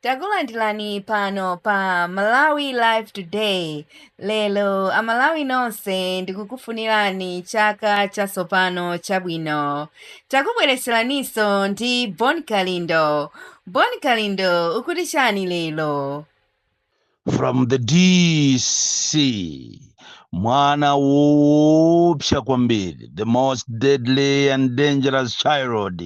Takulandirani pano pa Malawi Live Today. Lero Amalawi nonse ndikukufunirani chaka chatsopano chabwino. Takubweretseraniso ndi Bon Kalindo. Bon Kalindo ukuti chani lero? from the dc mwana woopsa kwambiri the most deadly and dangerous child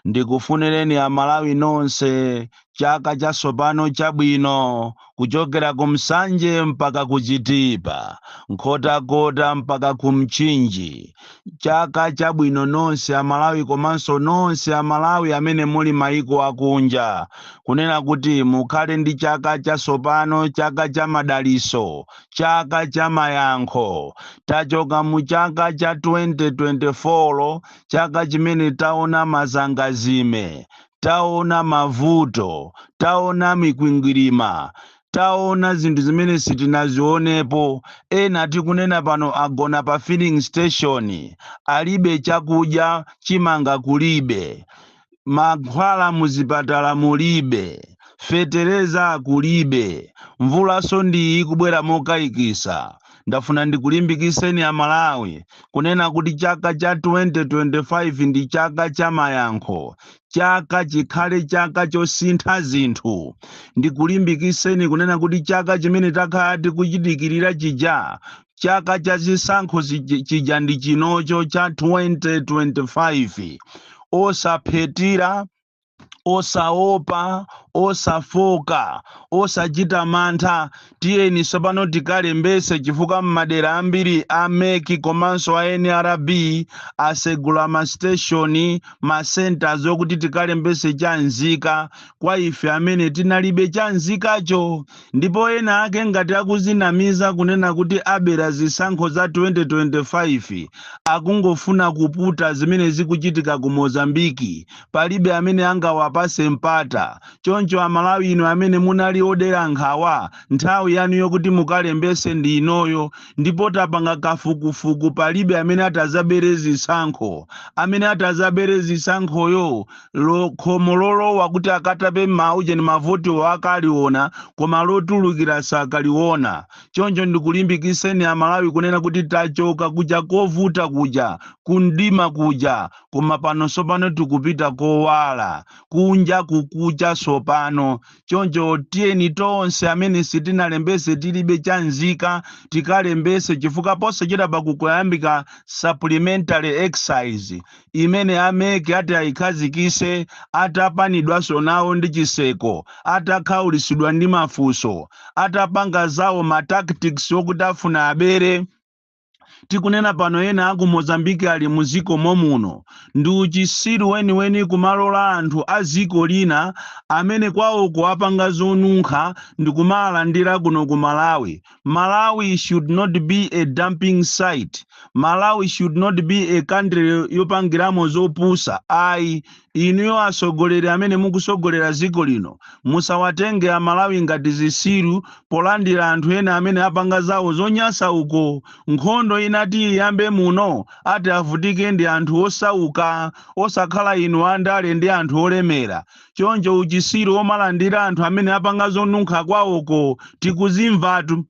ndikufunireni amalawi nonse chaka chatsopano chabwino kuchokera ku nsanje mpaka ku chitipa nkhotakota mpaka ku mchinji Chaka chabwino nonse a Malawi komanso nonse a Malawi amene muli maiko akunja. Kunena kuti mukhale ndi chaka chatsopano, chaka cha madalitso, chaka cha mayankho. Tachoka mu chaka cha 2024 chaka chimene taona mazangazime, taona mavuto, taona mikwingwirima, taona zinthu zimene sitinazionepo ena tikunena pano agona pa filling station alibe chakudya chimanga kulibe mankhwala muzipatala mulibe fetereza kulibe mvulanso ndiyi ikubwera mokayikisa ndafuna ndikulimbikitseni amalawi kunena kuti chaka cha 2025 ndi chaka cha mayankho chaka chikhale chaka chosintha zinthu ndikulimbikitseni kunena kuti chaka chimene takhala tikuchidikirira chija chaka cha zisankho chija ndi chinocho cha 2025 osaphethira osaopa osafoka osachita mantha Tiyeni tsopano tikalembetse chifukwa m'madera ambiri a mec komanso a nrb asegula ma station, ma centres okuti tikalembetse chanzika kwa ife amene tinalibe chanzikacho. Ndipo ena ake ngati akuzinamiza kunena kuti abera zisankho za 2025 akungofuna kuputa zimene zikuchitika ku Mozambique palibe amene angawapatse mpata. Choncho a Malawi inu amene munali odera nkhawa nthawi yanu yokuti mukalembetse ndi inoyo ndipo tapanga kafukufuku palibe amene atadzabere zisankho. Amene atadzabere zisankhoyo lo khomo lolowa kuti akatape maujeni mavotiwo akaliona koma lotulukira sakaliona. Choncho ndikulimbikitseni a Malawi kunena kuti tachoka kuja kovuta kuja, ku mdima kuja koma pano tsopano tikupita kowala. kunja kukucha tsopano choncho tiyeni tonse amene sitinalembese tilibe cha nzika tikalembese chifukwa posachedwapa kukuyambika supplementary exercise imene a MEC ati ayikhazikise atapanidwanso nawo ndi chiseko atakhaulitsidwa ndi mafunso atapanga zawo ma tactics okuti afuna abere Tikunena pano ena aku Mozambique ali mu ziko momuno. Ndi uchisiru weniweni kumalola anthu a ziko lina amene kwawoko apanga zonunkha ndikumaalandira kuno ku Malawi. Malawi should not be a dumping site. Malawi should not be a country yopangiramo zopusa ayi. Inuyo atsogoleri amene mukutsogolera dziko lino musawatenge a Malawi ngati zitsiru polandira anthu ena amene apanga zawo zonyansa uko. Nkhondo inati iyambe muno ati avutike ndi anthu osauka osakhala inu a ndale ndi anthu olemera. Choncho uchitsiru omalandira anthu amene apanga zonunkha kwawoko tikuzimvatu.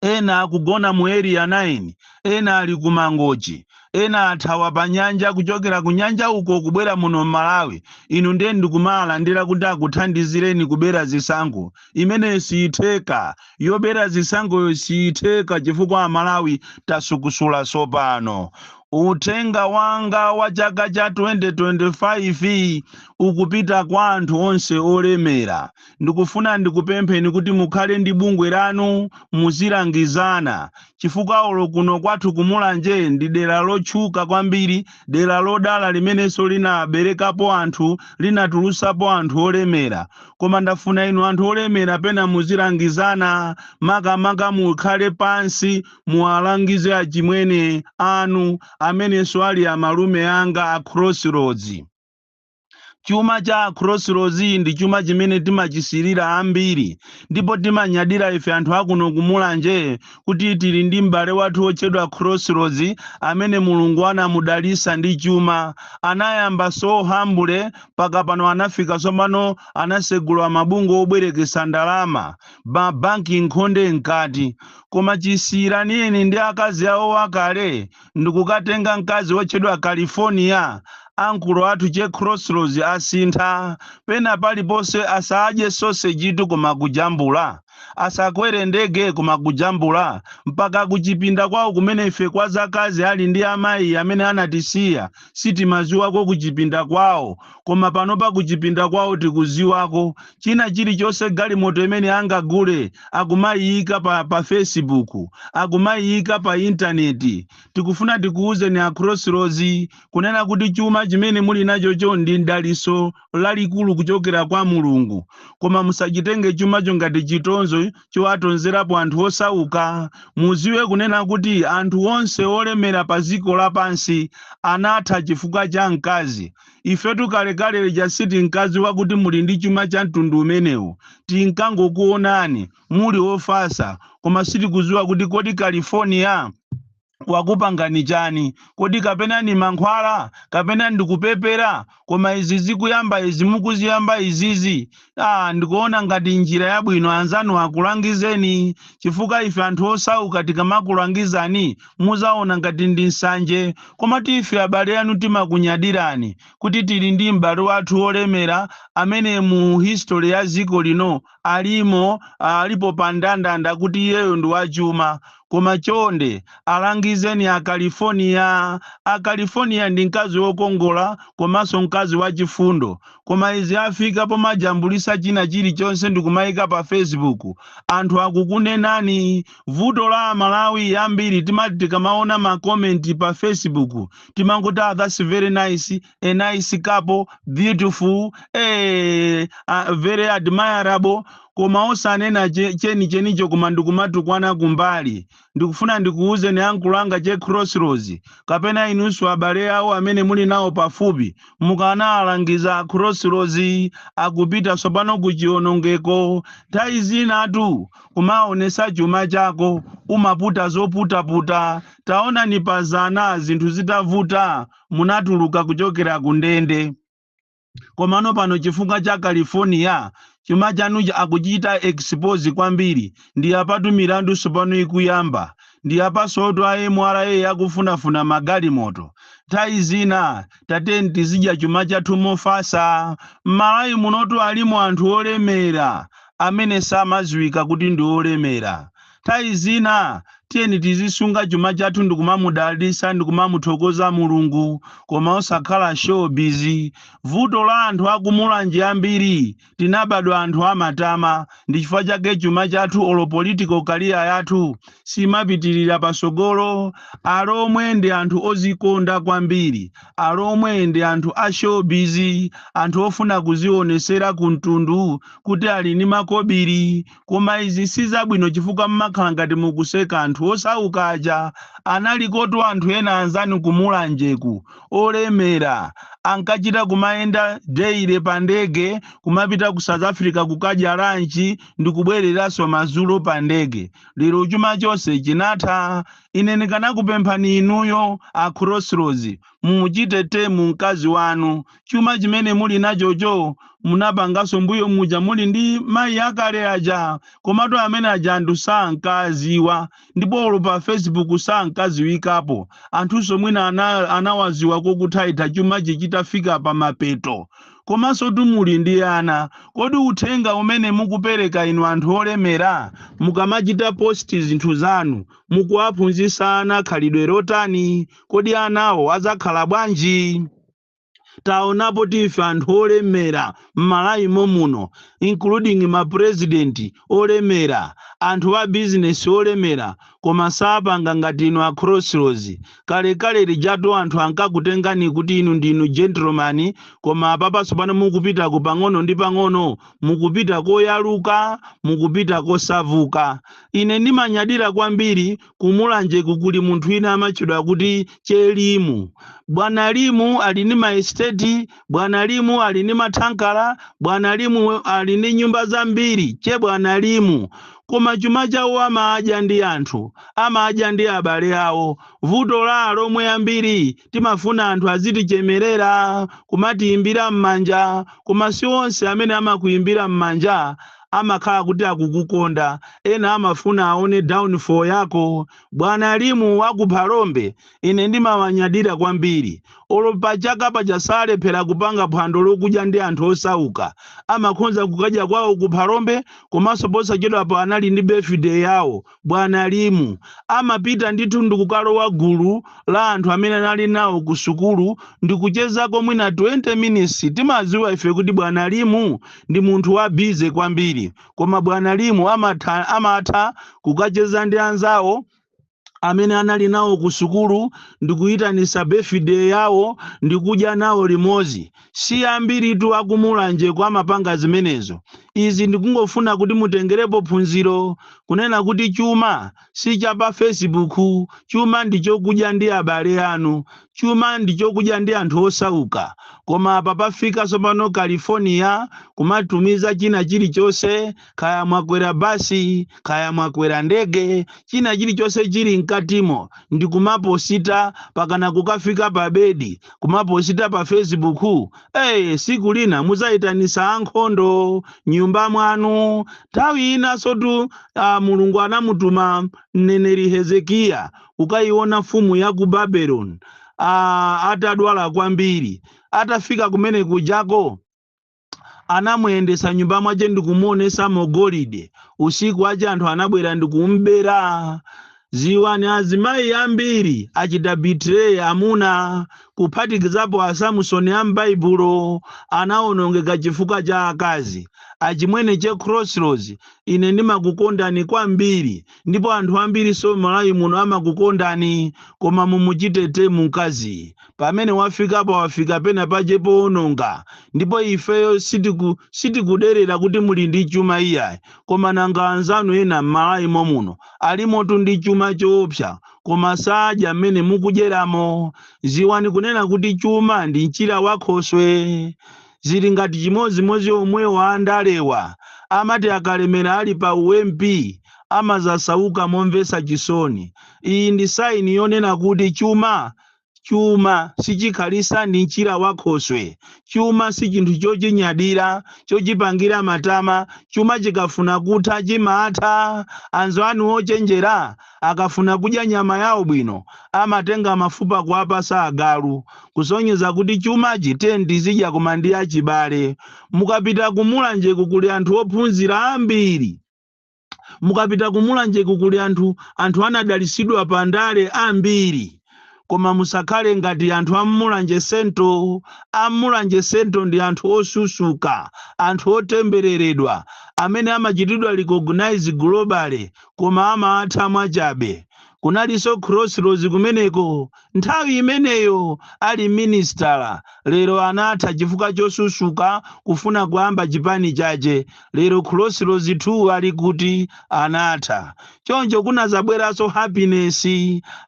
ena akugona mu area 9 ena ali ku mangochi ena athawa pa nyanja kuchokera ku nyanja uko kubwera muno m'malawi inu ndiye ndikumawalandira kuti akuthandizireni kubera zisankho imeneyo siyitheka yobera zisankhoyo siyitheka chifukwa amalawi tasukusula tsopano uthenga wanga wa chaka cha 2025 ukupita kwa anthu onse olemera ndikufuna ndikupempheni kuti mukhale ndi bungwe lanu muzilangizana chifukwa olo kuno kwathu kumulanje ndi dera lotchuka kwambiri dera lodala limenenso linaberekapo anthu linatulusapo anthu olemera koma ndafuna inu anthu olemera pena muzilangizana makamaka mukhale pansi muwalangize achimwene anu amenenso ali amalume anga a crossroads chuma cha crossroads ndi chuma chimene timachisirira ambiri ndipo timanyadira ife anthu akuno kumulanje kuti tili ndi m'bale wathu wotchedwa crossroads amene mulungu anamudalisa ndi chuma anayamba so humble mpaka pano anafika tsopano anasegula mabungwe obwerekesa ndalama mabanki nkhonde mkati koma chisiyiraneni ndi akazi awo akale ndikukatenga mkazi wotchedwa California, ankulo athu che Crossroads asintha, pena paliponse asadye sausage tu koma kujambula, asakwere ndege koma kujambula, mpaka kuchipinda kwawo kumene ife kwa zakazi ali ndi amayi amene anatisiya, sitimaziwako kuchipinda kwawo koma panopa kuchipinda kwawo tikuziwako china chilichonse galimoto imene angagule akumayiyika pa, pa facebook akumayiyika pa intaneti tikufuna tikuwuzeni a crossroads kunena kuti chuma chimene muli nachocho ndi mdaliso lalikulu kuchokera kwa mulungu koma musachitenge chumacho ngati chitonzo chowatonzerapo anthu osauka. Muziwe kunena kuti anthu onse olemera pa ziko lapansi anatha chifukwa cha mkazi. Ifetu kalekale lija sitinkaziwa kuti muli ndi chuma cha mtundu umenewu. Tinkangokuonani muli ofasa koma sitikuziwa kuti kodi California wakupangani chani kodi kapena ndi mankhwala kapena ndikupepera koma izi zikuyamba izi mukuziyamba izizi ah, ndikuona ngati njira yabwino anzanu akulangizeni chifukwa ife anthu osauka tikamakulangizani muzaona ngati ndi nsanje koma ife abale anu timakunyadirani kuti tili ndi m'bale wathu wolemera amene mu history ya ziko lino alimo alipo pa ndandanda kuti iyeyo ndi wachuma koma chonde alangizeni a California a California ndi mkazi wokongola komanso mkazi wachifundo koma izi afika pomajambulisa china chilichonse ndikumayika pa Facebook anthu akukunenani vuto la amalawi ambiri timati tikamaona ma comment pa Facebook timangoti ah that's very nice a nice couple beautiful eh, uh, very admirable koma osanena che- cheni chenicho koma ndikumatukwana kumbali ndikufuna ndikuwuzeni ankolo anga che crossroads kapena inunso abale awo amene muli nawo pafupi mukanaalangiza a crossroads akupita tsopano ku chionongeko nthawi zinatu kumaonesa chuma chako umaputa zoputaputa taonani pazana zinthu zitavuta munatuluka kuchokera ku ndende komano pano chifukwa cha california chuma chanuchi akuchita expose kwambiri ndi apatu milandu sopano ikuyamba ndi apansotu a mra akufunafuna magalimoto nthawi zina tiyeni tizidya chuma chathu mofasa m'malawi munotu alimo anthu olemera amene samaziwika kuti ndi olemera Nthawi zina tiyeni tizisunga chuma chathu ndikumamudalitsa ndikumamuthokoza Mulungu koma osakhala showbiz. Vuto la anthu aku Mulanje ambiri tinabadwa anthu amatama ndichifukwa chake chuma chathu olo political career yathu simapitilira pasogolo. Alomwe ndi anthu ozikonda kwambiri. Alomwe ndi anthu a showbiz, anthu ofuna kuzionesera ku mtundu kuti ali ndi makobili Koma izi si zabwino chifukwa mmakhala ngati mukuseka anthu osaukaja analikotu anthu ena anzanu ku Mulanje ku olemera ankachita kumayenda daily pa ndege kumapita ku South Africa kukadya lunch ndikubwereranso madzulo pa ndege. Lero chuma chonse chinatha. Ine ndikanakupemphani inuyo a Crossroads mumuchite tame mkazi wanu chuma chimene muli nachocho munapanganso mbuyo muja muli ndi mayi akale aja komatu amene aja anthu sankaziwa ndipo olo pa facebook sankaziwikapo anthunso mwina anawaziwa kokutha itha chuma chitafika pa mapeto komanso tu muli ndi ana kodi uthenga umene mukupereka inu anthu olemera mukamachita posti zinthu zanu mukuwaphunzitsa ana khalidwe lotani kodi anawo adzakhala bwanji taonapotu ife anthu olemera m'malawi mommuno including ma president olemera anthu a business olemera koma sapanga ngati inu a crossroads kalekale lijatu anthu ankakutengani kuti inu ndinu gentleman koma apapa tsopano mukupita ku pang'ono ndi pang'ono mukupita koyaluka mukupita kosauka ine ndimanyadira kwambiri Ku Mulanje ku kuli munthu wina amatchedwa kuti Che Limu. Bwana Limu ali ndi maesiteti, Bwana Limu ali ndi mathankala, Bwana Limu ali ndi nyumba zambiri, Che Bwana Limu. Koma chuma chawo amadya ndi anthu, amadya ndi abale awo. Vuto la Alomwe ambiri timafuna anthu azitichemerera, kumatiimbira m'manja, koma si onse amene amakuimbira m'manja amakhala kuti akukukonda ena amafuna aone downfall yako bwana limu wa ku phalombe ine ndimawanyadira kwambiri olo pachaka paja salephera kupanga phwando lokudya ndi anthu osauka amakhonza kukadya kwawo ku phalombe komanso posachedwapo anali ndi birthday yawo Bwana Limu amapita ndithu ndikukalowa gulu la anthu amene anali nawo ku sukulu ndikuchezako mwina 20 minutes. Timadziwa ife kuti bwana Limu ndi munthu wa busy kwambiri koma bwana Limu amatha kukacheza ndi anzawo amene anali nawo ku sukulu ndikuyitanisa birthday yawo ndikudya nawo limodzi. Si ambiritu a ku Mulanjeku amapanga zimenezo. Izi ndikungofuna kuti mutengerepo phunziro kunena kuti chuma si cha pa fesibuku, chuma ndi chokudya ndi abale anu, chuma ndi chokudya ndi anthu osauka. Koma apa pafika tsopano California kumatumiza china chilichonse kaya mwakwera basi kaya mwakwera ndege china chilichonse chili mkatimo ndi kumaposita pakana kukafika pa bedi kumaposita pa facebook eye siku lina muzayitanisa ankhondo m'nyumba mwanu nthawi inanso tu ah, mulungu anamutuma mneneri hezekiya kukayiona mfumu ya ku babeloni ah, atadwala kwambiri atafika kumene kujako anamuyendesa mnyumba mwache ndi kumuonesamo golide usiku wache anthu anabwera ndi kumubera ziwani azimayi ambiri achita betray amuna kuphatikizapo asamusoni a m'baibulo anawonongeka chifukwa cha akazi achimwene che crossroads ine ndimakukondani kwambiri ndipo anthu ambirinso mmalawi muno amakukondani koma mumuchite tame mkaziyu pamene wafikapa wafika pena pache powononga ndipo ifeyo sitiku sitikuderera kuti muli ndi chuma iyayi koma nanga anzanu ena mmalawi momuno alimotu ndi chuma choopsa koma sadya mmene mukudyeramo ziwani kunena kuti chuma ndi mchira wakhoswe zili ngati chimodzimodzi omwewa andalewa amati akalemera ali pa u MP amazasauka momvetsa chisoni iyi ndi sign yonena kuti chuma chuma sichikhalitsa ndi mchira wa khoswe chuma sichinthu chochinyadira chochipangira matama chuma chikafuna kutha chimatha anzanu ochenjera Akafuna kudya nyama yao bwino, amatenga mafupa kuwapasa agalu, kusonyeza kuti chumachi tiyeni tizidya koma ndi achibale. Mukapita ku Mulanjeku kuli anthu ophunzira ambiri. Mukapita ku Mulanjeku kuli anthu anthu anadalitsidwa pa ndale ambiri. koma musakhale ngati anthu ammulanje sento ammulanje sento ndi anthu osusuka anthu otembereredwa amene amachitidwa recognize globally koma amatha mwachabe kunalinso crossroads kumeneko nthawi imeneyo ali minister lero anatha chifukwa chosusuka kufuna kuyamba chipani chache lero crossroads 2 ali kuti anatha choncho kunazabweranso happiness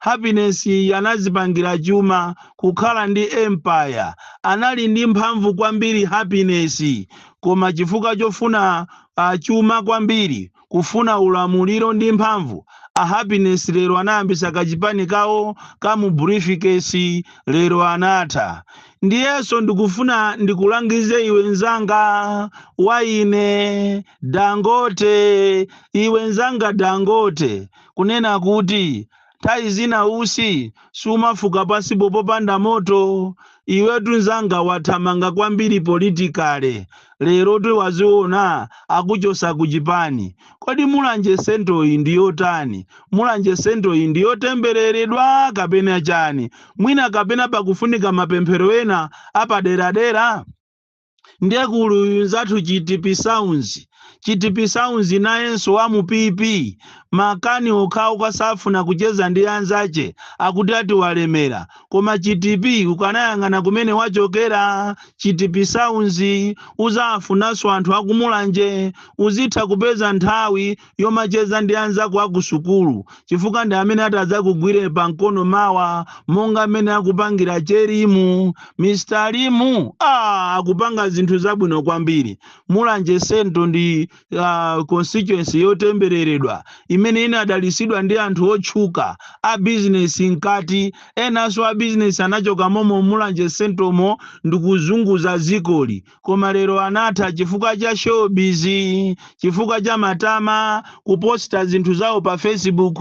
happiness anazipangira chuma kukhala ndi empire anali ndi mphamvu kwambiri happiness koma chifukwa chofuna uh, chuma kwambiri kufuna ulamuliro ndi mphamvu a happiness lero anayambisa kachipani kawo ka mu briefcase lero anatha Ndiyenso ndikufuna ndikulangize iwe nzanga wa ine Dangote, iwe nzanga Dangote, kunena kuti nthawi zina usi sumafuka pasi popanda moto. Iwetu nzanga wathamanga kwambiri politikale, lero tu waziona akuchosa kuchipani. Kodi Mulanje Central yi ndi yotani? Mulanje Central yi ndi yotembeleledwa kapena chani? Mwina kapena pakufunika mapemphero ena apaderadera? Ndiye kuli uyu mnzathu Chitipi Sounds, Chitipi Sounds nayenso wa mu PP. Makani okhaokha safuna kucheza ndi anzache akuti ati walemera. koma chitipi ukanayang'ana kumene wachokera chitipi sounds uzawafunanso anthu akumulanje uzitha kupeza nthawi yomacheza ndi anzako akusukulu chifukwa ndi amene atadzakugwire pa mkono mawa monga mmene akupangira che limu mr limu ah, akupanga zinthu zabwino kwambiri mulanje central ndi uh, constituency yotembereredwa imene inadalisidwa ndi anthu otchuka a bizinesi mkati enanso a bizinesi anachoka momo mulanje central mo ndikuzunguza dzikoli koma lero anatha chifukwa cha showbiz chifukwa cha matama kuposta zinthu zawo pa facebook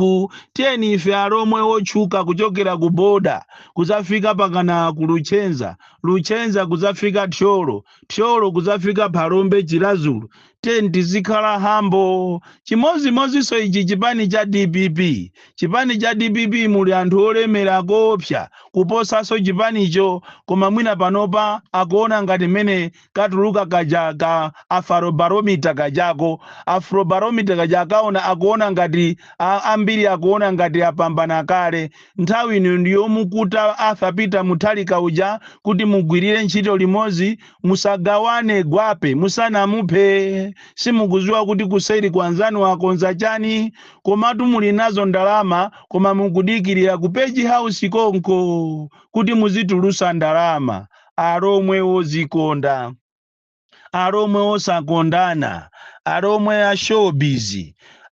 tiyeni ife alomwe otchuka kuchokera ku boda kuzafika pakana ku luchenza luchenza kuzafika thyolo thyolo kudzafika phalombe chiradzulu tiyeni tizikhala hambo chimodzimodzinso ichi chipani cha dpp chipani cha dpp muli anthu olemera koopsa kuposanso chipanicho koma mwina panopa akuona ngati mmene katuluka kaja ka afrobarometer kajako afrobarometer kaja akaona akuona ngati a- ambiri akuona ngati apambana kale Nthawi ino ndi yomukuta Arthur Peter Mutharika uja kuti mugwirire ntchito limodzi, musagawane gwape musanamuphe. Simukuziwa kuti kuseri kwanzanu wakonza chani? Komatu muli nazo ndalama koma mukudikirira ku page house konko kuti muzitulusa ndalama. Alomwe ozikonda. alomwe osakondana alomwe a showbiz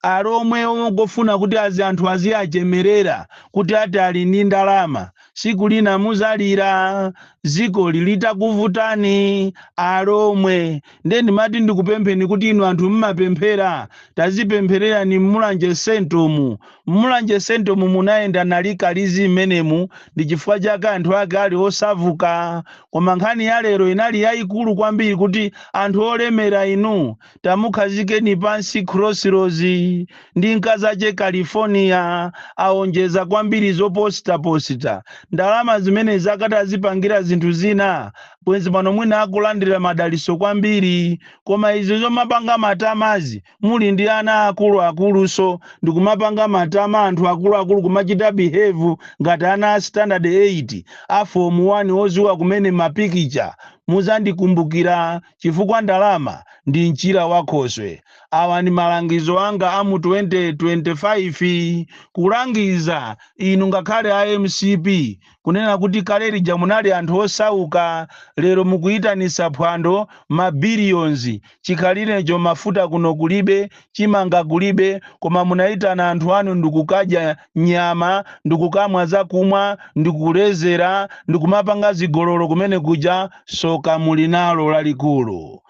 alomwe ongofuna kuti azi anthu aziachemerera kuti ati ali ndi ndalama siku lina muzalira dzikoli litakuvutani alomwe nde ndimati ndikupempheni kuti inu anthu mmapemphera tazipemphererani mmulanje central mu Mulanje centre mu munayenda nali kalizi mmenemu ndi chifukwa chake anthu ake ali osavuka koma nkhani ya lero inali yaikulu kwambiri kuti anthu olemera inu tamukhazikeni pansi crossroads ndi nkazache California aonjeza kwambiri zoposita posita ndalama zimenezo akati azipangira zinthu zina bwenzi pano mwina akulandira madaliso kwambiri koma izi zomapanga matamazi muli ndi ana akulu akulunso ndikumapanga matama anthu akulu akulu kumachita behave ngati ana a standard 8 a form 1 oziwa kumene mapikicha muzandikumbukira chifukwa ndalama ndi mchira wa khoswe awa ndi malangizo anga a mu 2025 kulangiza inu ngakhale a mcp kunena kuti kale lija munali anthu osauka lero mukuitanisa phwando ma billions chikhalilecho mafuta kuno kulibe chimanga kulibe koma munaitana anthu anu ndikukadya nyama ndikukamwa zakumwa ndikulezera ndikumapanga zigololo kumene kuja soka muli nalo lalikulu